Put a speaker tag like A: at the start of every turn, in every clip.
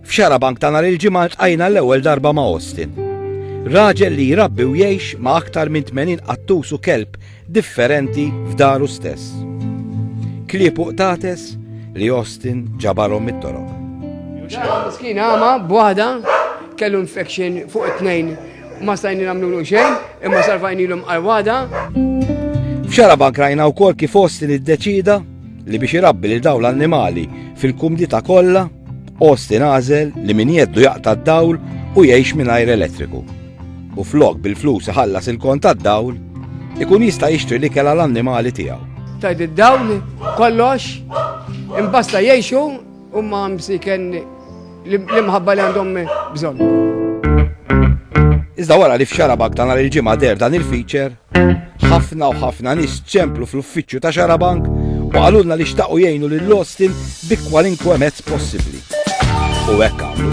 A: F'xara bank ta' nhar il-ġimgħa tqajna l-ewwel darba ma' Austin. Raġel li jrabbi u jgħix ma' aktar minn 80 qattus u kelb differenti f'daru stess. Kliepu qtates li Austin ġabarhom mit-toroq.
B: Miskin għama b'waħda kellu infection fuq it-tnejn ma stajni nagħmlu xejn imma sarfajnilhom għal waħda.
A: F'xara bank rajna wkoll kif Austin iddeċida li biex irabbi lil dawn l-annimali fil-kumdita kollha, Austin għażel li min jeddu jaqta' d-dawl u jgħix mingħajr elettriku. U flok bil-flus iħallas il-kont tad-dawl, ikun jista' jixtri l-ikel għal annimali tiegħu. Tajd id-dawl
B: kollox imbasta jgħixu Huma msiken l-imħabba li għandhom bżonn.
A: Iżda wara li f'Xarabak ta' nhar il-ġimgħa der dan il-feature, ħafna u ħafna nies ċemplu fl-uffiċċju ta' Xarabank u qalulna li xtaqu jgħinu lil Austin bi kwalinkwe mezz possibbli. U hekk għamlu.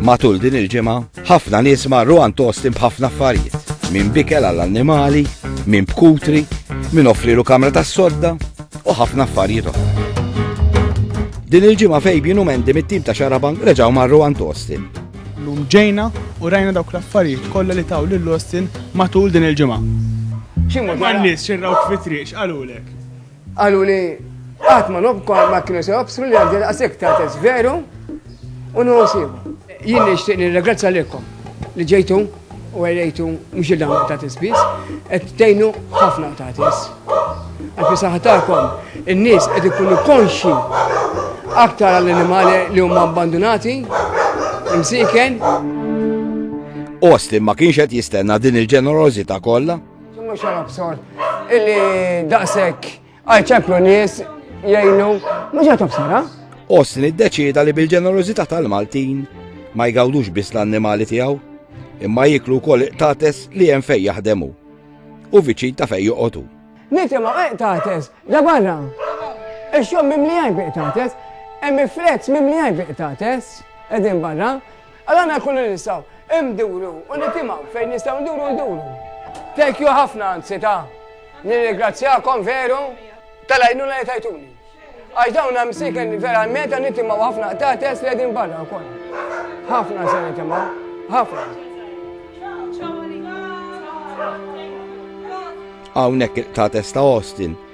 A: Matul din il-ġimgħa Ħafna nies marru għand Austin b'ħafna affarijiet, minn bikel għall-annimali, minn bkutri, minn offrilu kamra tas-sodda u ħafna affarijiet oħra. Din il-ġimgħa Fabian u Mendi mit-tim ta' Xarabank reġgħu marru għand Austin. Lum ġejna
C: u rajna dawk l-affarijiet kollha li taw lil Austin matul din il-ġimgħa. Xi mod ma nies xirraw fi triq x'qalulek? Qaluli
B: qatt ma nobkom ma kienu se jobsru li għandi daqshekk ta' test veru u nħossibu. Jien nixtieq nirregrazzja lilkom li ġejtu u għajrejtu mhux il-dawn ta' tisbis, qed tgħinu ħafna ta' tis. Għalfi saħatakom in-nies qed ikunu konxi aktar għall-animali li huma abbandunati, imsiken.
A: Austin ma kienx qed jistenna din il-ġenerożità kollha. Mhux xarab sor
B: illi daqshekk għal ċemplu nies jgħinu mhux qed obsara. Osni ddeċieda
A: li bil-ġenerożità tal-Maltin ma jgawdux biss l-annimali tiegħu, imma jiklu wkoll iqtates li hemm fejn jaħdemu u viċin ta' fejn joqogħdu. Nitima
B: iqtates, da barra. Ix-xogħol mimli għajb iqtates, hemm il-flex mimli għajb iqtates, qegħdin barra. Għal għana kollu li nistaw, imduru u nitimaw fejn nistaw nduru nduru. Thank you ħafna anzi ta' nirringrazzjakom veru tal-għajnuna li tajtuni. Għax dawn hemm siken verament għan nitimaw ħafna ta' test li għedin barra wkoll. Ħafna se nitimaw, ħafna.
A: Hawnhekk ta' testa Austin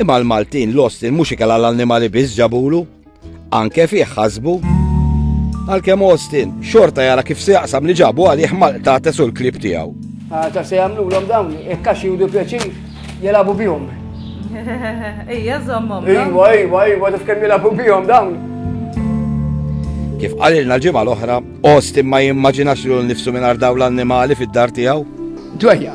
A: Imma l-Maltin lost il mhux ikel għall-annimali biss ġabulu, anke fih ħasbu. Għalkemm Austin xorta jara kif se jaqsam li ġabu għalih mal-qtates u l-klib tiegħu. Ta' se jagħmlulhom
B: dawn, jekk għax judu pjaċir, jelabu bihom.
D: Ejja, zommom. Ejwa, ejwa, ejwa, taf
B: kemm jilabu bihom dawn.
A: Kif qalilna l-ġimgħa l-oħra, Austin ma jimmaġinax l nifsu minn dawn l-annimali fid-dar tiegħu. Dwejja.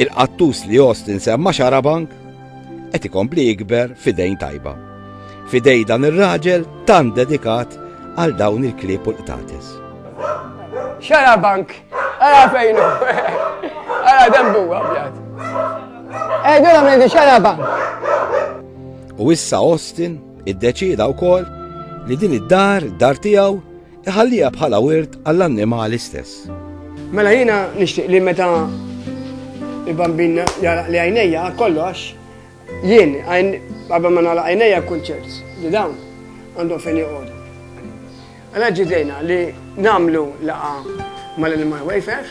A: Il-qattus li Jost insemma xarabank qed ikompli jikber f'idejn tajba. F'idej dan ir-raġel tant dedikat għal dawn il-klieb u l-qtates. Xarabank,
B: ara fejn ara dembu abjad. Edu eh, għamil di xarabank.
A: U issa Austin iddeċida wkoll li din id-dar, dar tiegħu, Iħalliha bħala wirt
B: għall-annimali
A: stess. Mela jiena
B: nixtieq
A: li meta
B: il-bambin jaraq li għajnejja kollox, jien għajn qabel ma nagħlaq għajnejja kunċert li dawn għandhom fejn joqogħdu. Għala ġidejna li namlu laqa mal-Animal Wayfair,